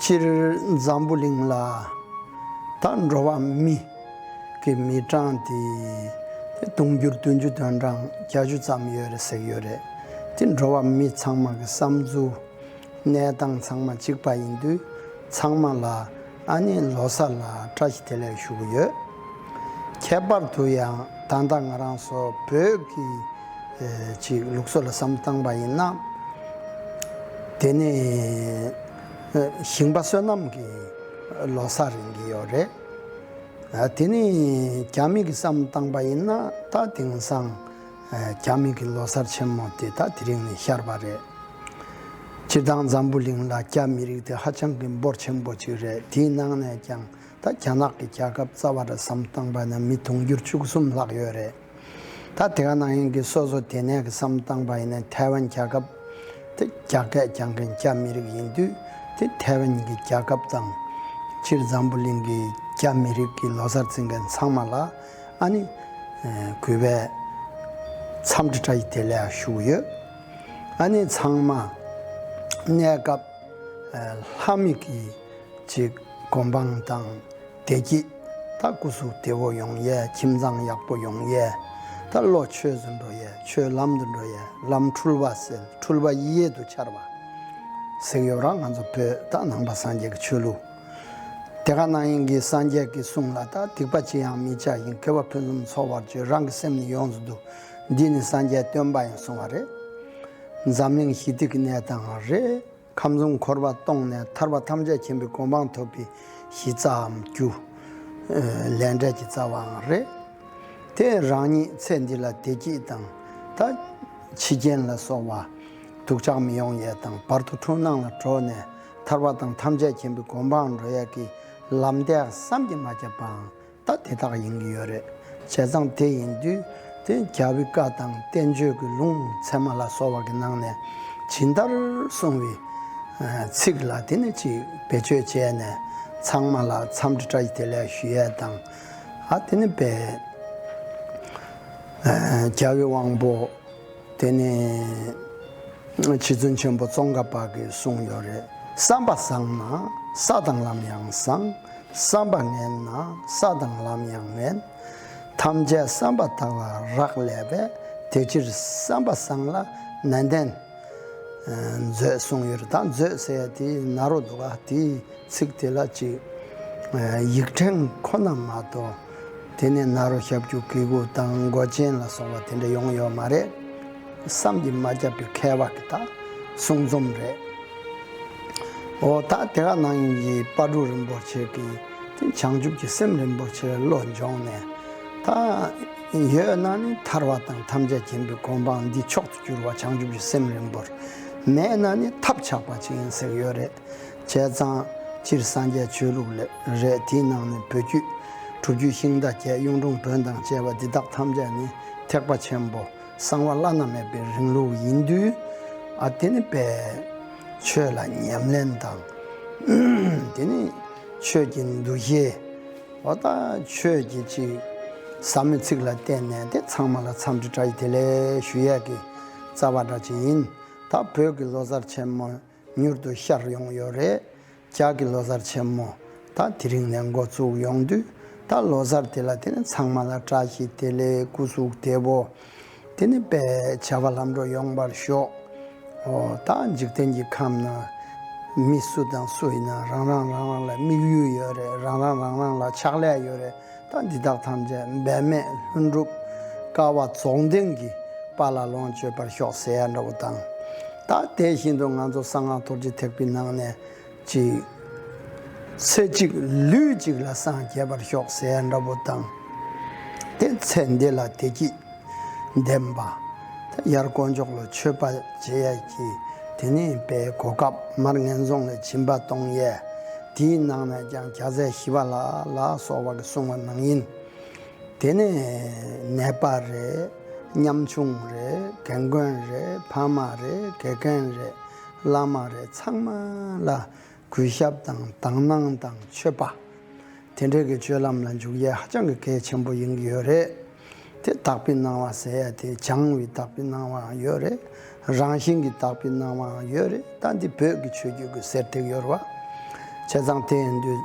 སྤྱིར་འཛམ་བུ་གླིང་ལ་ད་འགྲོ་བ་མི་གི་མི་གྲངས་དེ་དུང་ཕྱུར་བདུན་ཅུ་དོན་གྲངས་བརྒྱ་ཅུ་ཙམ་ཡོད་རེད་ཟེར་གྱི་ཡོད་རེད་དེ་འགྲོ་བ་མི་ཚང་མ་གི་བསམ་ཚུལ་གནས་སྟངས་ཚང་མ་གཅིག་པ་ཡིན་དུས་ཚང་མ་ལ་ཨ་ནེ་ལོ་སར་ལ་བཀྲ་ཤིས་བདེ་ལེགས་ཞུ་གི་ཡོད། ཁྱད་པར་དུ་ཡང་ད་ལྟ་ང་རང་ཚོ་བོད་ཀྱི་ཅིག་ལུགས་སྲོལ་ལ་བསམ་བཏང་པ་ཡིན་ན། དེ་ནི་ཞིང་པ་བསོད་ནམས་ཀྱི་ལོ་སར་ཡིན་གྱི་ཡོད་རེད། དེ་ནི་རྒྱ་མི་གིས་བསམ་བཏང་པ་ཡིན་ན་ད་དེང་སང། རྒྱ་མི་གི་ལོ་སར་ཆེན་མོ་དེ་དག་དེ་རིང་ནས་ཤར་བ་རེད། སྤྱིར་བཏང་འཛམ་བུ་གླིང་ལ་རྒྱ་མི་རིགས་དེ་ཧ་ཅང་གི་འབོར་ཆེན་པོ་ཅིག་རེད་དེའི་ནང་ནས་ཀྱང་ད་རྒྱ་ནག་གི་རྒྱལ་ཁབ་རྩ་བ་ར་བསམ་བཏང་པ་ན་མི་དུང་འགྱུར་བཅུ་གསུམ་ལྷག་ཡོད་རེད། ད་དེ་ག་ནང་ཡིན་གི་སོ་སོ་དེ་ནས་གི་བསམ་བཏང་པ་ཡིན་ན་ཐའེ་ཝན་རྒྱལ་ཁབ་དེ་རྒྱ་སྐད་རྒྱང་མཁན་རྒྱ་མི་རིགས་ཡིན་དུས་དེ་ཐའེ་ཝན་གི་རྒྱལ་ཁབ་དང། སྤྱིར་འཛམ་བུ་གླིང་གི་རྒྱ་མི་རིགས་གི་ལོ་སར་བརྩི་མཁན་ཚང་མ་ལ་ཨ་ནི། གུས་པས། མཚམས་འདྲི་དྲ་ཡི་དེ་ལས་བཞུགས་ཡོད། ཨ་ནི་ཚང་མ། གནས་སྐབས། ལྷ་མི་གི། ཅིག་སྒོམ་སྤང་དང། བདེ་སྐྱིད། ད་སྐུ་གཟུགས་བདེ་བོ་ཡོང་ཡས་ཁྱིམ་ཚང་ཡག་པོ་ཡོང་ཡས། ད་བློ་ཆོས་སུ་འགྲོ་ཡས་ཆོས་ལམ་དུ་འགྲོ་ཡས་ལམ་འཁྲུལ་བ་སེལ་འཁྲུལ་བ་ཡིད་ཡེ་དུ་འཆར་བ། གཟིགས་ཡོད་ར་ང་ཚོ་བོད་ད་ནང་པ་སངས་རྒྱས་ཀྱི་ཆོས་ལུགས། དེ་ག་ན་ཡིན་གྱི་སངས་རྒྱས་ཀྱི་གསུང་ལ་དག་སྡིག་པ་ཅི་ཡང་མི་བྱ་ཞིང་དགེ་བ་ཕུན་སུམ་ཚོགས་པར་སྤྱོད་རང་གི་སེམས་ནི་ཡོངས་སུ་བསྡུ། འདིས་ནི་སངས་རྒྱས་སྟོན་པ་ཡང་གསུང་བ་རེད། འཛམ་གླིང་ཞི་བདེ་ཀྱི་གནས་དང་རེ། ཁམས་གསུམ་འཁོར་བ་སྟོངས་ནས་ཐར་པ་ཐམས་ཅད་མཁྱེན་པའི་གོ་འཕང་ཐོབ་པའི་གཞི་རྩའམ་རྒྱུ། ལས་འབྲས་ཀྱི་རྩ་བའང་རེད། དེས་རང་ཉིད་ཚེ་འདི་ལ་བདེ་སྐྱིད་དང། ད། འཆི་རྐྱེན་ལ་སོགས་བ། སྡུག་ཅག་མི་ཡོང་ཡས་དང་བར་དོ་འཁྲུལ་སྣང་ལ་གྲོལ་ནས། ཐར་བ་དང་ཐམས་ཅད་མཁྱེན་པའི་སྒོམ་པའང་འགྲོ་ཡག་གི་ལམ་དེ་བསམ་གྱིས་མ་ཁྱབ་པའང་ད་དེ་དག་ཡིན་གྱི་ཡོད་རེད་བྱས་ཙང་དེ་ཡིན་དུས་དེ་རྒྱ་བི་ཀ་དང་བསྟན་བཅོས་ཀྱི་ལུང་ཚད་མ་ལ་སོགས་བ་གི་ནང་ནས་ཇི་ལྟར་གསུངས་བའི་ཚིག་ལ་དེ་ནས་ཅིག་བེད་སྤྱོད་བྱས་ནས་ཚང་མ་ལ་འཚམས་འདྲི་བཀྲ་དེ་ལས་ཞུ་ཡས་དང་ཨ་དེ་ནས་བེད་རྒྱ་བི་དབང་པོ། དེ་ནི་རྗེ་བཙུན་ཆེན་པོ་ཙོང་ཁ་པ་གིས་གསུངས་ཡོད་རེད། བསམ་པ་བཟང་ན་ས་དང་ལམ་ཡང་བཟང། བསམ་པ་ངན་ན་ས་དང་ལམ་ཡང་ངན། ཐམས་ཅད་བསམ་པ་དག་ལ་རག་ལས་པས་དེ་ཕྱིར་བསམ་པ་བཟང་ལ་ནན་ཏན་མཛོད་གསུངས་ཡོད་རེད་ད་མཛོད་ཟེར་ཡ་དེ་ན་རོ་འདུག་ག་དེའི་ཚིག་དེ་ལ་ཅིག་ཡིག་ཕྲེང་ཁོ་ན་མ་གཏོགས། དེ་ནས་ནཱ་རོ་ཤཱབ་ཀྱུ་ཀི་ཀུ་དང་མགོ་ཅན་ལ་སོགས་པ་དེ་འདྲ་ཡོང་ཡོད་མ་རེད། བསམ་གྱིས་མ་ཁྱབ་པའི་མཁས་པ་གི་དག་གསུང་རྩོམ་རེད། འོ་ད་དེ་ག་ནང་ཡིན་གྱི་དཔའ་གྲུ་རིན་པོ་ཆེ་གི་དེ་བྱང་ཆུབ་ཀྱི་སེམས་རིན་པོ་ཆེ་བློ་འབྱོངས་ནས་ད་ཡོད་ན་ནི་ཐར་བ་དང་ཐམས་ཅད་མཁྱེན་པའི་གོ་འཕང་འདི་མཆོག་ཏུ་གྱུར་བ་བྱང་ཆུབ་ཀྱི་སེམས་རིན་པོར་མེད་ན་ནི་ཐབས་ཆག་པ་ཅིག་ཡིན་ཟེར་ཡོད་རེད། བྱས་ཙང། སྤྱིར་སངས་རྒྱས་ཆོས་ལུགས་ལས་རེད་དེའི་ནང་ནས་བོད་བརྒྱུད། དྲུག་བརྒྱུད་ཤིང་རྟ་རྒྱལ་གཡུང་དྲུང་བོན་དང་བཅས་པ་འདི་དག་ཐམས་ཅད་ནི་ཐེག་པ་ཆེན་པོ་གསང་བ་བླ་ན་མེད་པའི་རིང་ལུགས་ཡིན་དུས། ཨ་དེ་ནི་པས། ཆོས་ལ་ཉམས་ལེན་དང། དེ་ནི། ཆོས་ཀྱི་འདུ་ཤེས། འོ་ད་ཆོས་ཀྱི་གཅིག། ཟབ་མོའི་ཚིག་ལ་བརྟེན་ནས་དེ་ཚང་མ་ལ་འཚམས་འདྲི་དྲ་ཡི་དེ་ལས་ཞུ་ཡས་ཀྱི་རྩ་བ་འདྲ་ཅིག་ཡིན། ད་བོད་ཀྱི་ལོ་གསར་ཆེན་མོའི་མྱུར་དུ་ཤར་ཡོང་ཡོད་རེད། ལྕགས་ཀྱི་ལོ་སར་ཆེན་མོ་ད་དེ་རིང་ནས་འགོ་བཙུགས་ཡོང་དུས་ད་ལོ་སར་དེ་ལ་དེ་ནི་ཚང་མ་ལ་བཀྲ་ཤིས་བདེ་ལེགས་སྐུ་གཟུགས་བདེ་བོ། དེ་ནི་པའི་བྱ་བ་ལམ་འགྲོ་ཡོང་པར་ཤོག་ཨོ། ད་འཇིག་རྟེན་གྱི་ཁམས་ན་མི་སུ་དང་སུ་ཡིན་ན་རང་རང་རང་རང་ལ་དམིགས་ཡུལ་ཡོད་རེད་རང་རང་རང་རང་ལ་ཕྱག་ལས་ཡོད་རེད་ཐང་འདི་དག་ཐམས་ཅད་འབད་མེད་ལྷུན་གྲུབ། དཀར་བ་རྫོགས་ལྡན་གྱི་དཔའ་ལ་ལོངས་སྤྱོད་པར་ཤོག་ཟེར་ཡ་འདྲ་བོ་དང། ད་དེ་བཞིན་དུ་ང་ཚོ་གསང་སྔགས་རྡོ་རྗེ་ཐེག་པའི་ནང་ནས་ཅིག། ཚེ་གཅིག་ལུས་གཅིག་ལ་སངས་རྒྱས་པར་ཤོག་ཟེར་ཡ་འདྲ་བོ་དང། དེ་ཚེ་འདི་ལ་བདེ་སྐྱིད། ལྡན་པ། དབྱར་དཀོན་མཆོག་ལ་མཆོད་པ་བྱེད་ཡས་ཀྱི་དེ་ནས་པའི་གོ་སྐབས་མར་ངན་སོང་ལས་བྱིན་པ་གཏོང་ཡས། དེའི་ནང་ནས་ཀྱང་བྱ་ཟས་ཞི་བ་ལ་ལ་སོགས་བ་གི་སྲུང་བ་ནང་ཡིན། དེ་ནས་ནད་པ་རེད། ཉམ་ཆུང་རེད། གན་རྒོན་རེད། ཕ་མ་རེད། དགེ་རྒན་རེད། བླ་མ་རེད་ཚང་མ་ལ་གུས་ཞབས་དང་དག་སྣང་དང་མཆོད་པ། དེ་འདྲའི་གི་སྤྱོད་ལམ་ལ་འཇུག་ཡས་ཧ་ཅང་གི་གལ་ཆེན་པོ་ཡིན་གི་ཡོད་རེད་དེ། དག་པའི་སྣང་བ་ཟེར་ཡས་དེ་བྱང་བའི་དག་པའི་སྣང་བའང་ཡོད་རེད། རང་བཞིན་གི་དག་པའི་སྣང་བའང་ཡོད་རེད་ད་འདི་བོད་གི་ཆོས་རྒྱུད་གི་ཟེར་ཐེག་ཡོར་བ། བྱས་ཙང་དེ་ཡིན་དུས།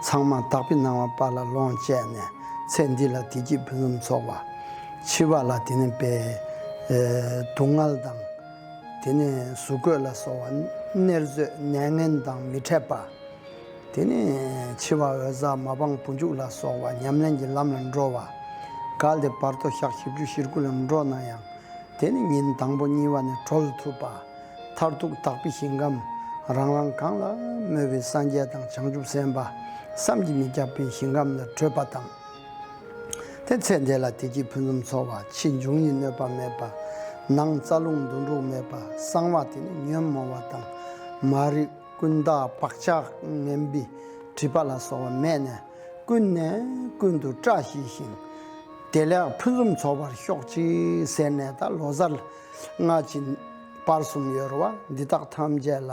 ཚང་མ་དག་པའི་སྣང་བ་པ་ལ་ལོངས་སྤྱད་ནས་ཚེ་འདི་ལ་དེ་སྐྱིད་ཕུན་སུམ་ཚོགས་པ། འཆི་བ་ལ་དེ་ནི་བའི། སྡུག་བསྔལ་དང། དེ་ནས་གཟུགས་བཀོད་ལ་སོགས་བ་ནེར་མཛོད་གནས་ངན་དང་མི་འཕྲད་པ། དེ་ནས་འཆི་བ་འོད་གསལ་མ་སྤངས་བུ་འཇུག་ལ་སོགས་བ་ཉམས་ལེན་གྱི་ལམ་ལ་འགྲོ་བ། གལ་ཏེ་བར་དོ་ཞག་བཞི་བཅུ་བཞིར་སྐུ་ལ་འགྲོ་ན་ཡང་དེ་ནི་ཉིན་དང་པོ་གཉིས་བ་ནས་གྲོལ་ཐུབ་པ། མཐར་ཐུག་དག་པའི་ཞིང་ཁམས་རང་རང་གང་ལ་མོས་པའི་སངས་རྒྱས་དང་བྱང་ཆུབ་སེམས་དཔའ་བསམ་གྱིས་མི་ཁྱབ་པའི་ཞིང་ཁམས་ལ་བགྲོད་པ་དང། དེ་ཚེ་འདས་ལ་དེ་གྱིས་ཕུན་སུམ་ཚོགས་པ་ཕྱིས་འབྱུང་ཡིད་གནོད་པ་མེད་པ། ནང་རྩ་རླུང་འདུ་འགྲོ་མེད་པ་གསང་བ་དེ་ནི་ཉོན་མོངས་བ་དང་མ་རིག་ཀུན་བརྟགས་བག་ཆགས་ངན་པའི་དྲི་པ་ལ་སོགས་བ་མེད་ནས་ཀུན་ནས་ཀུན་དུ་བཀྲ་ཤིས་ཤིང། བདེ་ལེགས་ཕུན་སུམ་ཚོགས་པར་ཤོག་ཅིག་ཟེར་ནས་ད་ལོ་གཟར་སྔ་ཕྱི་བར་གསུམ་ཡོལ་བ་འདི་དག་ཐམས་ཅད་ལ།